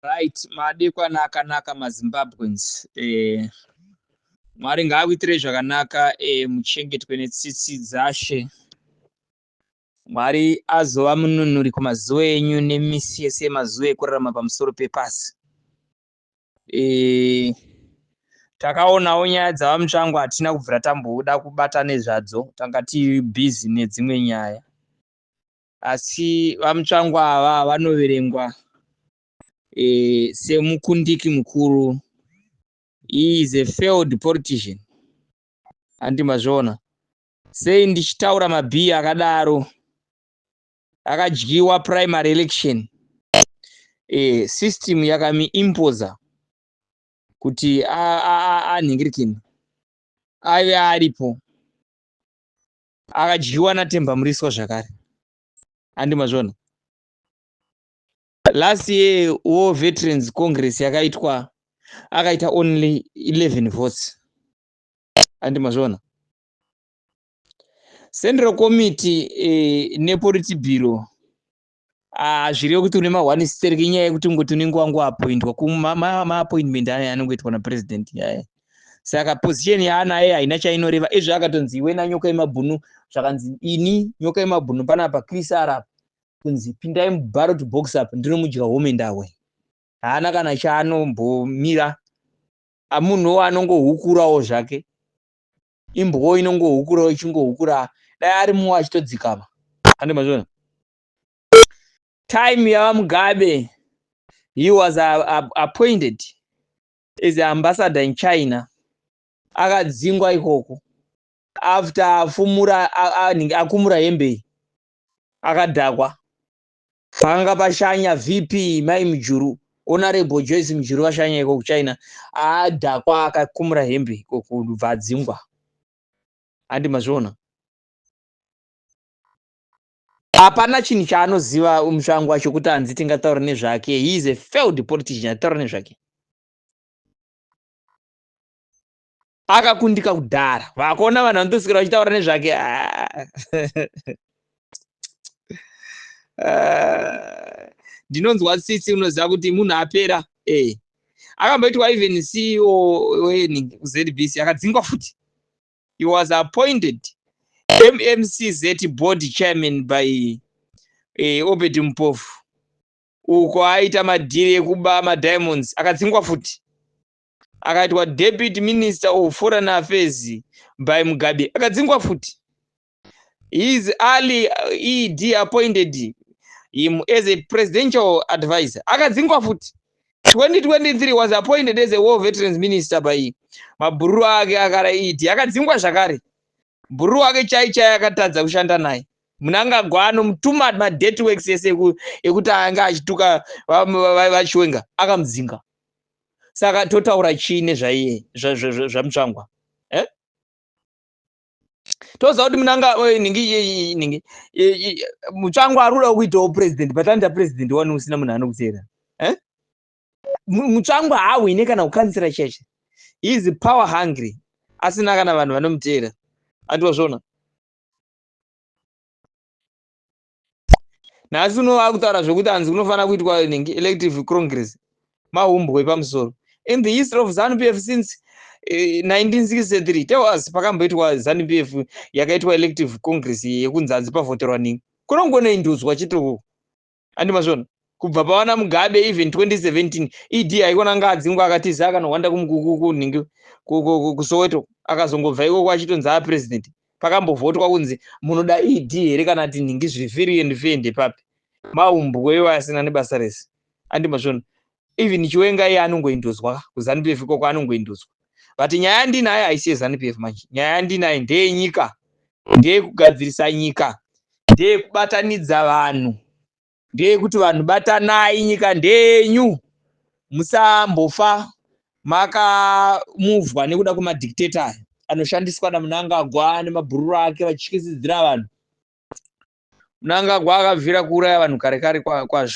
Right madekwana akanaka maZimbabweans eh, Mwari ngaakuitirei zvakanaka eh, muchengetwe netsitsi dzashe Mwari azova mununuri kumazuva enyu nemisi yese yemazuva ekurarama pamusoro pepasi eh, takaonawo nyaya dzava mutsvango hatina kubvira tamboda kubata nezvadzo tanga tiri busy nedzimwe nyaya asi vamutsvangu ava vanoverengwa e, semukundiki mukuru he is a failed politician handi mazviona sei ndichitaura mabhiya akadaro akadyiwa primary election e, system yakamiimposa kuti anhingirikini aive aripo akadyiwa natemba muriswa zvakare andi mazvona last year wo veterans congress yakaitwa akaita only 11 votes andi mazvona central committee eh, nepolitibiro Ah, zviriyo kuti une mahwani stereki inyaya yekuti ungoti unenge wangoapointwa kumaapointment aya anongoitwa napresident yaya saka position yaanaye haina chainoreva izvo akatonzi iwe nanyoka yemabhunu zvakanzi ini nyoka yemabhunu panapa chris arap kunzi pindai mubarot box up ndinomudya home ndawe haana kana chaanombomira amunhuwo anongohukurawo zvake imbwa inongohukura ichingohukura dai ari mumwe achitodzikama ande mazviona time yavamugabe he was appointed as ambassador in china akadzingwa ikoko after afumura akumura hembe akadhakwa Panga pashanya VP mai Mujuru, Honorable Joyce Mujuru vashanya iko kuChina. Adhakwa akakumura hembe iko kubva adzingwa. Handi mazviona. Hapana chinhu chaanoziva mutsvangu wacho kuti hanzi tingataura nezvake. He is a failed politician, ataura nezvake. akakundika kudhara vakuona vanhu vanotosvikira vachitaura nezvake ah. ndinonzwa tsitsi unoziva kuti munhu apera ee eh. akamboitwa even ceo wezbc akadzingwa futi he was appointed mmcz board chairman by eh, obed mupofu uko aita madhiri ekuba madiamonds akadzingwa futi akaitwa deputy minister of foreign affairs by mugabe akadzingwa futi his early uh, ed appointed him as a presidential advisor akadzingwa futi 2023 was appointed as a war veterans minister by mabhururu ake akara ed akadzingwa zvakare Bhuru wake chai chai akatadza kushanda naye. Munangagwa anomutuma madirty works ese ekuti ange achituka vachiwenga akamudzinga. Saka totaura chii nezvaiye zvamutsvangwa? Eh? toziva kuti munanga eh, ningi mutsvango ari kuda kuitawo president but anoita president wani usina munhu anokuteera eh? mutsvangwa haahwine kana kukansira church is power hungry asina kana vanhu vanomuteera andiwazvona nhasi uno vakutaura zvekuti hanzi kunofanira kuitwa elective congress mahumbwe epamusoro in the history of zanu p f since 1963 eh, tell us pakamboitwa zanu p f yakaitwa elective congress yekunzi hanzi pavhoterwa ningi kunongoneindudzwa chitoo andi mazvona kubva pavana mugabe even 2017 ed haikona anga adzingwa akatiza akanohwanda kumukukukunhingi kusoweto akazongobva ikoko achitonzi a president pakambovhotwa kunzi munoda ed here kana ti nhingi zviri firi and fende papi maumbweyo asina nebasa rese andimazvona even chiwenga iye anongoinduzwa kuzanu pf ikoko anongoinduzwa but nyaya yandinayo haisi yezanu pf manje nyaya yandinayo ndeyenyika ndeyekugadzirisa nyika ndeyekubatanidza vanhu ndeyekuti vanhu batanai nyika ndeyenyu musambofa makamuvwa nekuda kwemadictator aya anoshandiswa namunangagwa nemabhururu ake vachityisidzira vanhu munangagwa akabvira kuuraya vanhu kare kare kwazvo kwa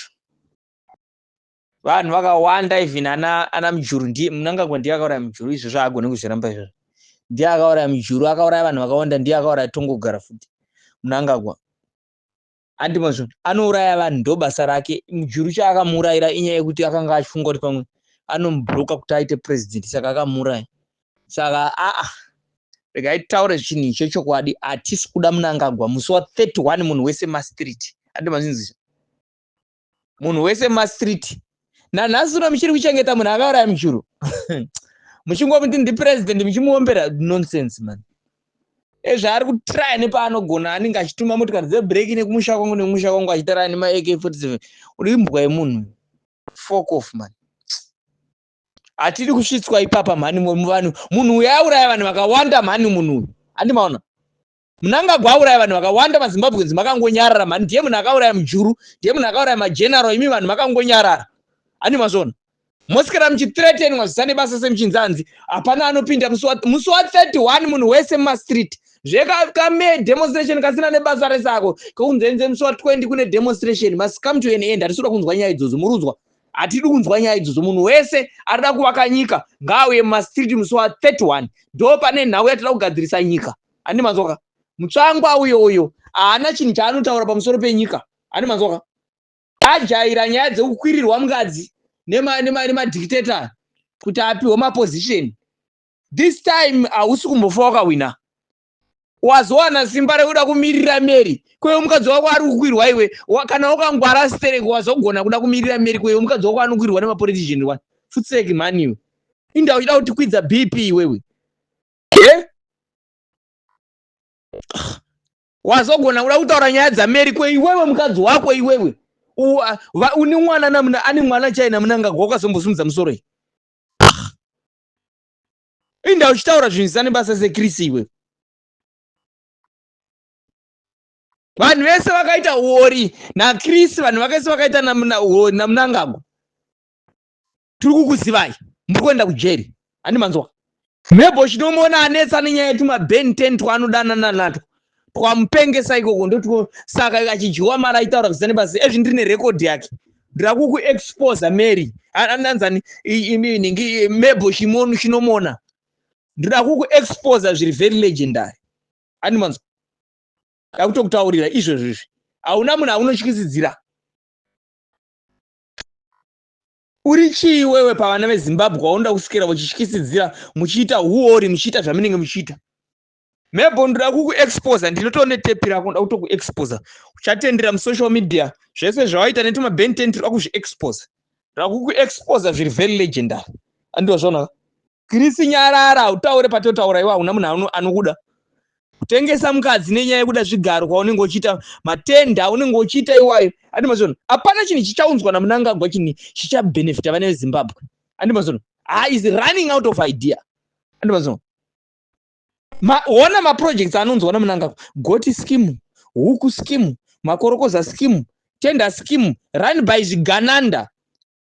vanhu vakawanda even ana ana mujuru ndiye munangagwa ndiye akauraya mujuru izvo zvaagone kuzviramba izvozvo ndiye akauraya mujuru akauraya vanhu vakawanda ndiye akauraya tongogara futi munangagwa andi mazvo anouraya vanhu ndo basa rake mujuru chaakamuurayira inyaya yekuti akanga achifunga kuti pamwe anomubroka kuti aite president saka akamuuraya saka aa regai taure chinhu icho chokwadi hatisi kuda munangagwa musi wa 31 munhu wese mastreet andi mazvinzizvo munhu wese mumastreet nanhasi uno muchiri kuchengeta munhu akauraya mujuru muchingomuti ndipresident muchimuombera nonsense man ezvaari kutraya nepaanogona anenge achituma motikari dzebreak nekumusha kwangu nekumusha kwangu achitaraya nemaak 47 uri imbwa yemunhu fok off man hatidi kusvitswa ipapa mhani muvanhu munhu uyo auraya vanhu vakawanda mhani munhu uyu handimaona Mnangagwa auraya vanhu vakawanda maZimbabweans makangonyarara mhani ndiye munhu akauraya mujuru ndiye munhu akauraya mageneral imi vanhu makangonyarara ani mazvona mosikira muchithreatenwa zvisane basa semuchinzanzi hapana anopinda musi wa 31 munhu wese mumastreet zvekame demonstration kasina nebasa rese ako kekunzenze musi wa 20 kune demonstration must come to an end hatisi kuda kunzwa nyaya idzodzo murudzwa hatidi kunzwa nyaya idzodzo munhu wese arida kuvaka nyika ngaauye mumastreet musi wa 31 ndo pane nhau yatida kugadzirisa nyika ani manzwaka mutsvangwa uyo uyo haana chinhu chaanotaura pamusoro penyika ani manzwaka ajaira nyaya dzekukwirirwa mukadzi nemadictator nema, kuti apiwe maposition this time hausi kumbofa wakahwina wazowana simba rekuda kumirira meri kweyo mukadzi wako ari kukwirwa iwe kana wakangwara stereki wazogona kuda kumirira meri kweyo mukadzi wako anokwirwa nemapolitician wani futseki mhani iwe inda uchida kutikwidza bp iwewe eh? wazogona kuda kutaura nyaya dzameri ko iwewe mukadzi wako iwewe une mwana namuna ane mwana chai namunangagwa ukazombosumudza musoro iyi inda uchitaura zvinhu zvisane basa sekrisi iwewe vanhu vese vakaita uori nakrisi vanhu vakese vakaita namunangagwa tiri kukuzivai muri kuenda kujeri handi manzwa mhebho chinomuona anetsa nenyaya yetuma ben ten twanodanana natwo twamupengesa ikoko ndotwo saka achidyiwa mari aitaura kuzane basi ezvi ndiri nerekodhi yake ndakukuexposa mary andanzani inenge mhebho chimonu chinomona ndoda kukuexposa zviri very legendary handi manzwa ndakutokutaurira izvozvo izvi hauna munhu aunotyisidzira Uri chii iwewe pavana veZimbabwe waunoda kuswera uchityisidzira muchiita huori muchiita zvamunenge muchiita? Mebho ndoda kukuexposa ndinoto netepi rako ndoda kutokuexposa uchatendera musocial media zvese zvawaita netumabententi rwa kuzviexposa rakukuexposa zviri very legendary andiwa zvona Chris nyarara utaure patotaura iwa una munhu anokuda kutengesa mukadzi nenyaya yekuda zvigaro kwaunenge uchiita matenda unenge uchiita iwayo andimazvono hapana chinhu chichaunzwa namunangagwa chinhu chichabhenefita vana vezimbabwe andimazvono ha is running out of idea andimazvono ona maprojects anonzwa namunangagwa goti skimu huku skimu makorokoza skimu tender skimu run by zvigananda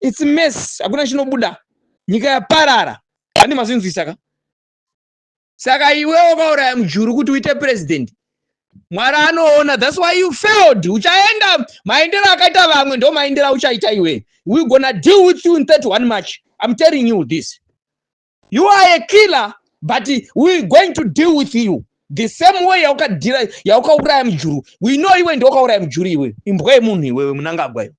its mess hakuna chinobuda nyika yaparara handi mazvinzwisa ka saka iwe wakauraya mujuru kuti uite president mwari anoona thats why you failed uchaenda maendero akaita vamwe ndo maendero auchaita iwe we gonna deal with you in 31 march im telling you this you are a killer but we going to deal with you the same way yaukadira yaukauraya mujuru we know iwe ndiwakauraya mujuru iwe imbwa yemunhu iwewe munangagwa iwe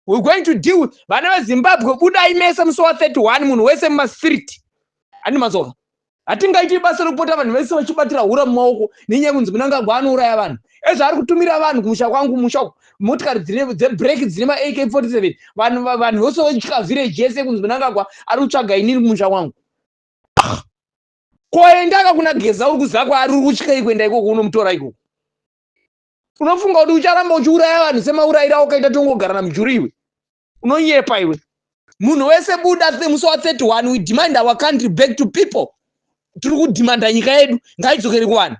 we're going to deal with vana vezimbabwe budai mese musi wa 31 munhu wese mumastreet handi mazova hatingaiti basa rekupota vanhu vese vachibatira hura mumaoko nenyaya kunzi munangagwa anouraya vanhu ezvo ari kutumira vanhu kumusha kwangu kumusha uku motikari dzebrek dzine ma ak 47 vanhu vanhu vose vachitya village yese kunzi munangagwa ari kutsvaga inini kumusha kwangu koendaka kuna geza uri kuziva kwaari uri kutyei kuenda ikoko unomutora ikoko unofunga kuti ucharamba uchiuraya vanhu semaurayiro aukaita tongogara namujuru iwe unonyepa iwe munhu wese buda musi wa 31 we demand our country back to people tiri kudhimanda nyika yedu ngaidzokeri kuvanhu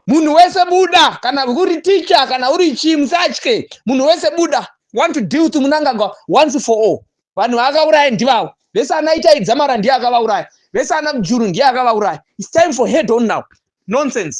munhu wese buda kana uri ticha kana uri chii musatye munhu wese buda want to deal with munangagwa once for all vanhu vaakauraya ndivavo vese ana itaidzamara ndiye akavauraya vese ana mujuru ndiye akavauraya its time for head on now nonsense